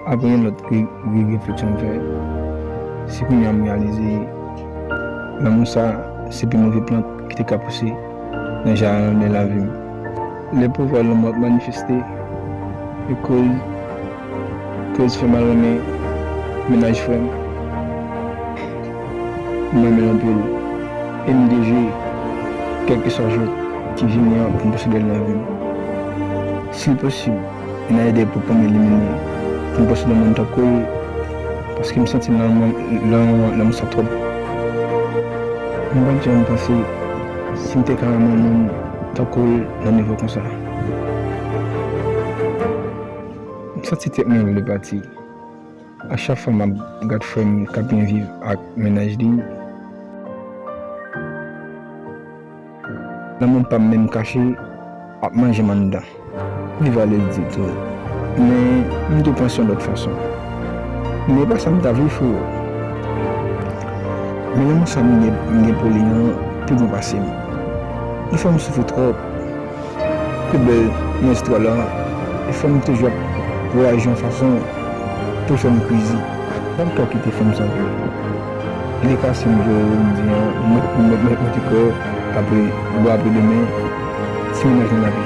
Aprè yon lòt gri refleksyon m fè, se kounya m reyalize lanmou sa se pi move plant ki te ka pouse nan jarden lavi m. Lè pouvwa lanmou ap manifeste e koz fè mal renmen mennaj frè m, m renmen l anpil e m dejwe kèlkeswa jwèt ki vini an pou m posede l nan vi m. Si l posib, vin a ede pou pranm elimine yon pòs de moun tankou l paske m santi nan mwen lè yon lè m sa twòp. M pat janm panse si m te ka renmen yon moun tankou l nan nivo konsa. M santi tèt mwen vle pati. A chak fwa map gad frèm kap byen viv ak mennaj li. Lanmoum pam menm kache ap manjem anndan. Li vale l di tou. Men m te panse yon lòt fason. Men e pa sa m ta vle freo. Men lanmou sa m gen pou li an pi bon pase m. Li fè m soufri twòp. Pi bèl nan istwa la e fanm toujou ap reyaji yon fason pou l fè m crazy. Sa m fè w kite fè m sa pou ou? Gen ka si m voye ou m di an mwen te kwè apre bon apre demen ti mennaj lan lavi.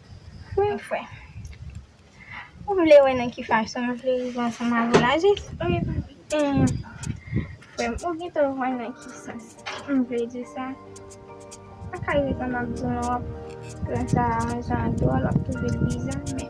Wi m kwè. Ou vle wè nan ki fason m vle rive ansanm avè w la jis? Wi m kwè. Ou gentan wè nan ki sans m vle di sa. Sa ka rive tan m ap di w lan w ap pran sa jan dwòl, w ap twouve l biza men.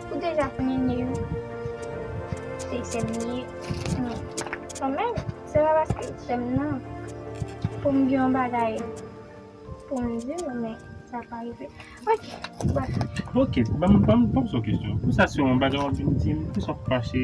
Ou deja konnen Neyou se sèm li ye men kanmenm se pa paske l sèm nan pou m gen yon bagay pou m di l men sa pa rive ok bref. Ok banm banm poze w kesyon pou sa se yon bagay wap vin di m pou sa w fache.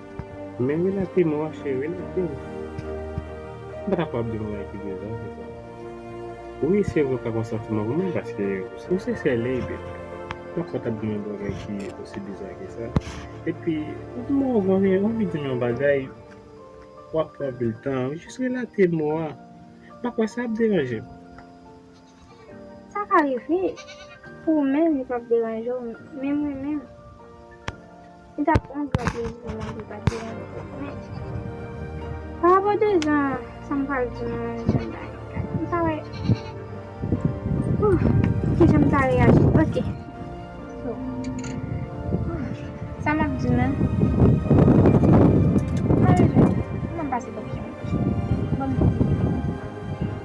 Men relate m Roche, relate m! M pa ta pwal ap di yon bagay ki dezas de sa. Wi, se vre ou ka gen yon santiman pou mwen paske ou se sè Leyde. Mwen pa ta ap di yon bagay ki osi biza ke sa. Epi, ou di m ou gen anvi di m yon bagay, wap pran anpil tan. Jis relate mo a. M pa kwè sa ap deranje m. Sa ka rive pou ou menm li pap deranje w men mwen menm li tap yon gran plezi pou mwen li pat deranje m men pa rapò de jan sa m pral di nou an jan bagay yo la m pa wè ooh kijan m ta reyaji ok so sa map di nou mwen menm m pase bòk yon moun bon m poko fin fini.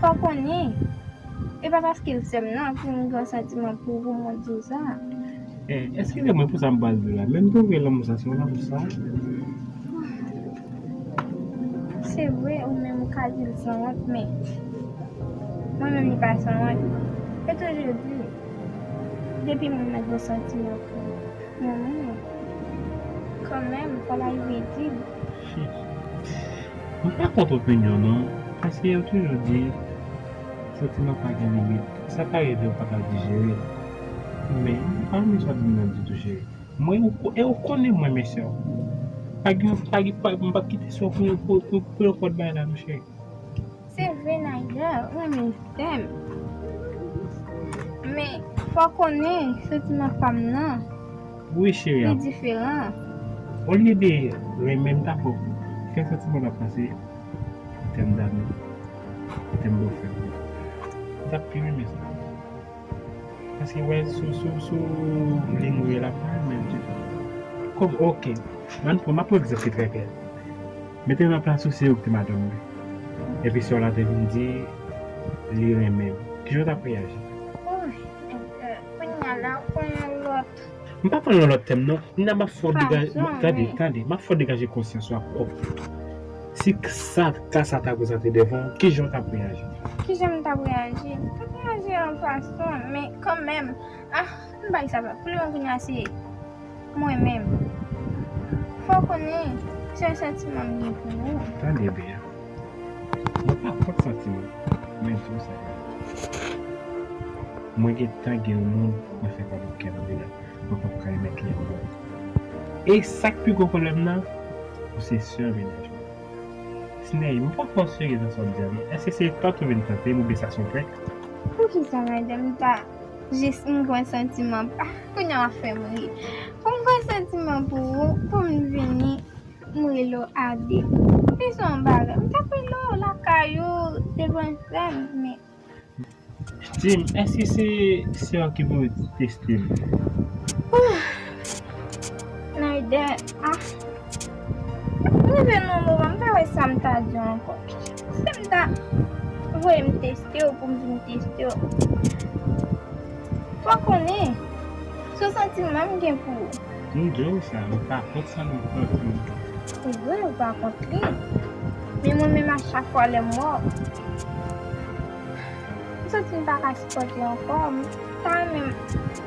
Fòk ou ni, e pa paske l sè m nan pou m gen santiman pou ou mwen di w sa. Eh, eskize mwen pou sa m pral di w la, men m twouve lanmou sa se yon lanmou sanwont. Se vre, ou menm ou ka di l sanwont, men mwen menm li pa sanwont. Yo toujou di, depi moun nan gen santiman pou yon moun, kanmenm fò l arive di l. Mwen pa kont opinyon non, paske yo toujou di santiman pa gen limit, sa ka rive ou pa ka dijere l. Men, mwen pa renmen sa w ap di m nan ditou cheri. Mwen, e ou konnen mwen men sè w. Pa gen, mwen pa p kite sè w pou yon pòt bagay la non cheri. Se vre Naija renmen Sèm men fòw konnen santiman fanm nan li diferan. Olye de renmenm ta fòw fè santiman la pase pou tèm damou pou tèm bòfrè ou m tap pi renmen sa paske wè sou ligne ou ye lap pa renmenl ditou kòm ok map pran egzanp ki trè klè. Mete nan plas ou se ou ki te madanm mwen epi sè w la te vin di li renmen m, kijan w t ap reyaji? M pa pran yon lòt tèm non, Nina m ap fè w degaje, tande, tande, m ap fè w degaje konsyans ou ak pwòp tèt ou. Si k sa, ka sa ta prezante devan w, kijan w t ap reyaji? Kijan m t ap reyaji? M t ap reyaji yon fason, men kanmenm, ah! M bay sa vre. Koulye w vin aseye. Mwen menm. Fè w konnen se yon santiman m gen pou ou. Tande byen. Mwen pa kont santiman. Men m di w sa vre. Mwen gen tan gen yon moun mwen fè pa bò kè m vre a. Mwen pap ka remèt li ankò. E sa k pi gwo pwoblèm nan, ou se sè mennaj mwen. Sneh, m pa twò serye nan sa w di a non. Èske se tant ou vin tante m oubyen sa s on prank? Poukisa Nadia m ta Jis m gwen santiman Kounya wap fèm ri Pou m gwen santiman pou ou Pou m vini M rele w Ade Li se yon bagay M tap rele w lakay ou Te gwen frè m Men Di m èske se sè w ki pou teste m Ooh Naydè Ah. Nouvel mwen move m pa wè sam ta diw ankò sem ta voye m testew poum vin testew fò konnen sou santiman m gen pou ou. M diw sa m pa kont sa nan kont li. Se vre ou pa kont li men mwen menm a chak fwa lèm wè w m santi m paka sipòte ankò m ta renmen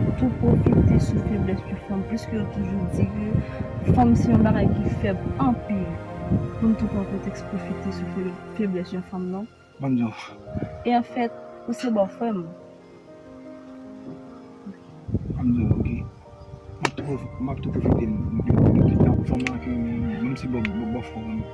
Ou tou pwofite sou feblès yon fanm pliske yo toujou di ke fanm se yon bagay ki fèb anpil pou n tou pran pretèks pwofite sou feblès yon fanm non. Banm di w. E anfèt ou se bòfrè m. Banm di w ok. Map tou pwofite m banm ti bòfrè w.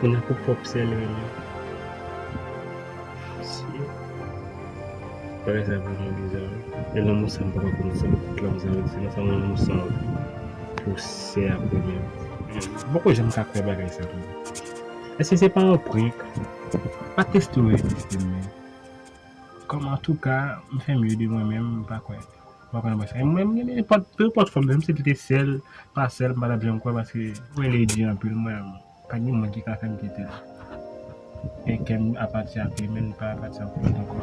Mwen nan pou pwòp sèl mwen nan. Mesye. Bagay sa vreman bizar wi. E lanmou sa m paka konnen se nan tout lanmou sa m se nan sa lanmou san pou sè a pou mwen. M poko janm ka kwè bagay sa tou. Eske se pa yon prank? Pa teste ou reziste m men. Kòm antouka m fè mye de mwen menm m pa kwè. M pa konn apre sa. Mwen renmen nenpòt, pe nenpòt fòm, menm si li te sèl, pa sèl, m pa t ap janm kwè paske m wè li di anpil mwen menm. Pa gen moun ki ka fè m kite l. Men kè m apati ak li men li pa apati ak lòt ankò.